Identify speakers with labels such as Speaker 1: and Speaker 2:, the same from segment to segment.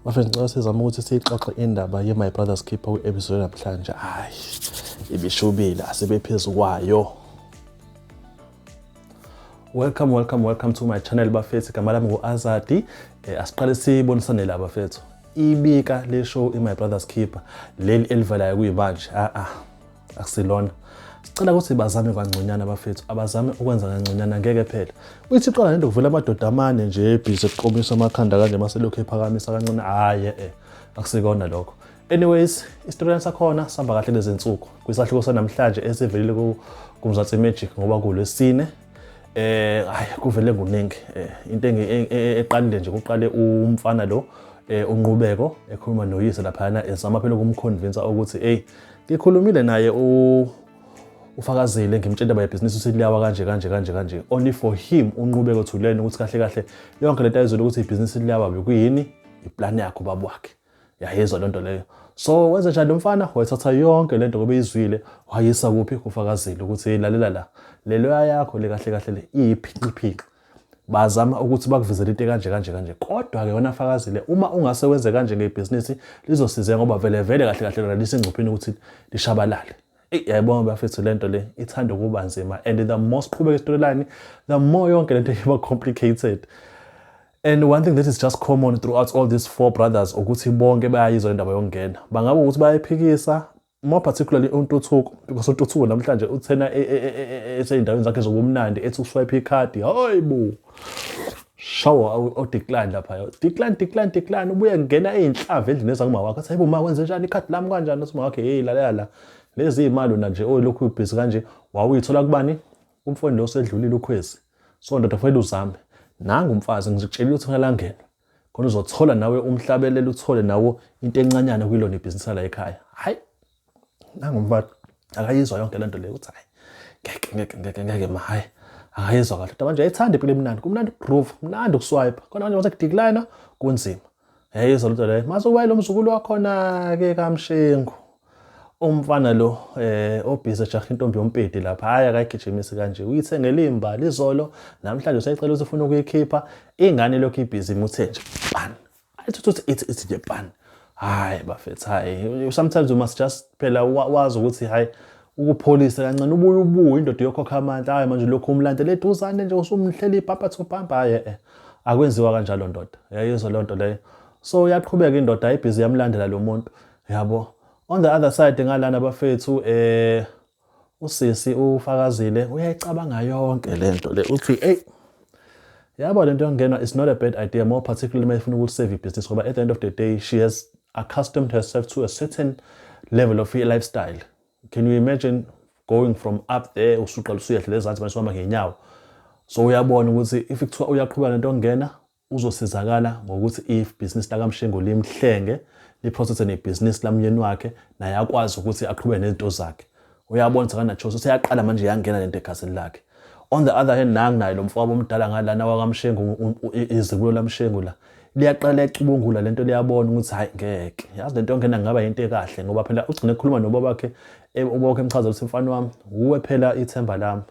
Speaker 1: Bafethu ngicela sizame ukuthi siyixoxe indaba ye-My Brother's Keeper kwi-episode namhlanje. Hhayi, ibishubile, asibephezu kwayo. Welcome, welcome, welcome to my channel bafethu. Igama lami ngu-Azadi. Eh, asiqale sibonisane la bafethu. Ibika le show i-My Brother's Keeper leli elivelayo kuyimanje. Ah ah. akusilona sicela ukuthi bazame kangconyana abafethu abazame ukwenza kangconyana ngeke phela uyithi qala nento kuvela amadoda amane nje ebhizi eqomisa amakhanda kanje maselokhu ephakamisa kancane hhayi e akusikona lokho anyways isitoriyana sakhona sihamba kahle lezinsuku kwisahluko sanamhlanje esivelile kumzansi magic ngoba kulwesine eh hayi kuvele kuningi eh, into e, e, e, eqalile nje kuqale umfana lo eh, unqubeko ekhuluma noyise laphayana esama phela ukumconvinsa ukuthi eyi Ngikhulumile naye u ufakazile ngimtshela by business uthi liyawa kanje kanje kanje kanje only for him unqube kothuleni ukuthi kahle kahle yonke lento ayizolo ukuthi ibhizinisi liyawa bekuyini iplan yakho baba wakhe yayizwa lento leyo so wenze njani lomfana wayithatha yonke lento ngoba izwile wayisa kuphi kufakazile ukuthi lalela la lelo yakho le kahle kahle le iyiphinqiphinqi bazama ukuthi bakuvezele into kanje kanje kanje kodwa ke wena fakazile uma ungase wenze kanje ngebhizinisi lizosiza ngoba vele vele kahle kahle lona lisengcupheni ukuthi lishabalale yayibona bafethu lento le ithanda ukuba nzima and the more siqhubeka isitoryline the more yonke lento iba complicated and one thing that is just common throughout all these four brothers ukuthi bonke bayayizwa indaba yokungena bangaba ukuthi bayayiphikisa more particularly uNtuthuko because uNtuthuko namhlanje uthena e, e, e, eseyindaweni zakhe zobumnandi ethi uswipe ikhadi hayibo shawo odecline lapha decline decline decline ubuye ngena ezinhlava endlini ezakuma wakhe athi hayibo ma wenze njani ikhadi lami kanjani uthi wakhe hey lalela la lezi imali na nje olokhu ubhizi kanje wawuyithola kubani umfweni lo sedlulile ukhwezi so ndoda fanele uzame nangu umfazi ngizitshelile ukuthi ngalangena khona uzothola nawe umhlabelele uthole nawo into encanyana kuyilona ibhizinisi la ekhaya hayi nangumfana akayizwa yonke le nto leyo ukuthi hayi ngeke ngeke ngeke ngeke ma hayi akayizwa kahle kodwa manje ayithanda impilo emnandi kumnandi ukugroove kumnandi ukuswipe khona manje mase kudiklina kunzima yayizwa lento leyo maze uwaye lo mzukulu wakhona-ke kamshengu umfana lo eh obhizi ejaha intombi yompedi lapha hayi akayigijimisi kanje uyithengela imbali izolo namhlanje usayicela ukuthi ufuna ukuyikhipha ingane lokhu ibhizi imuthe nje pan ayithuthi ithi ithi nje pan hayi bafethu hayi sometimes you must just phela wazi ukuthi hayi ukupholisa kancane ubuye ubuye indoda yokhokha amandla hayi manje lokhu umlandela eduzane nje usumhlela ibhampa to bhampa hayi eh akwenziwa kanjalo ndoda yayizwa lento leyo so uyaqhubeka indoda ayibhizi yamlandela lo muntu yabo on the other side ngalana bafethu eh usisi ufakazile uyayicabanga yonke lento le uthi hey yabo lento yongenwa is not a bad idea more particularly uma ifuna ukusave business ngoba at the end of the day she has accustomed herself to a certain level of lifestyle can you imagine going from up there usuqala usuyehla lezansi manje uhamba ngenyawo so uyabona ukuthi if kuthiwa uyaqhubeka nento ongena Uzosizakala ngokuthi ibhizinisi lakaMshengu limhlenge, liprosese nebhizinisi lamyeni wakhe, naye akwazi ukuthi aqhube nezinto zakhe. Uyabona ukuthi akanachoice, useyaqala manje yangena lento egazini lakhe. On the other hand, nangu naye lo mfowabo omdala ngalana wakaMshengu, izibulo laMshengu la, liyaqala liyacubungula lento liyabona ukuthi hayi ngeke yazi lento yongena ngaba yinto ekahle ngoba phela ugcine ekhuluma nobabakhe e, ubabakhe emchazela ukuthi mfana wami wuwe phela ithemba lami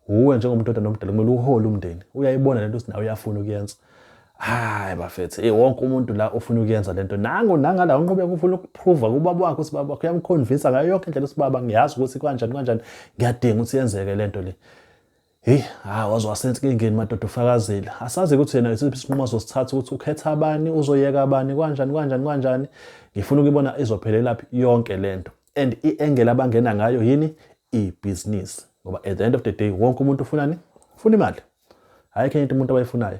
Speaker 1: Uwe njengomuntu odana omdala kumele uhole umndeni. Uyayibona lento ukuthi nawe uyafuna ukuyenza. Hayi bafethu, eh wonke umuntu la ufuna ukuyenza lento. Nangu nangala unqhubeka ufuna ukuprova kubaba wakho ukuthi baba wakho uyamconvince ngayo yonke indlela ukuthi baba ngiyazi ukuthi kanjani kanjani ngiyadinga ukuthi yenzeke lento le. Hey, ha waze wasenza inkingeni madoda ufakazile. Asazi ukuthi yena isiphi isinqumo azosithatha ukuthi ukhetha abani, uzoyeka abani, kanjani kanjani kanjani. Ngifuna ukubona izophelelaphi yonke lento. and i-angle abangena ngayo yini ibhizinisi ngoba at the end of the day wonke umuntu ufunani ufuna imali hhayi khenye into umuntu abayifunayo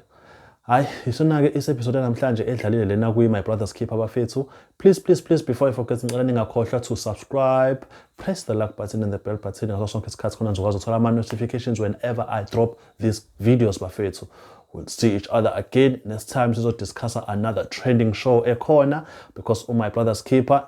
Speaker 1: hayi isona-ke is-episode namhlanje edlalile lena kwi-my brothers keep abafethu please please please before i forget ngicela ningakhohlwa to subscribe press the like button and the bell button ngaso sonke isikhathi khona ngizokwazi ukuthola ama-notifications whenever i drop these videos bafethu we'll see each other again next time sizodiscussa another trending show ekhona because umy brothers keeper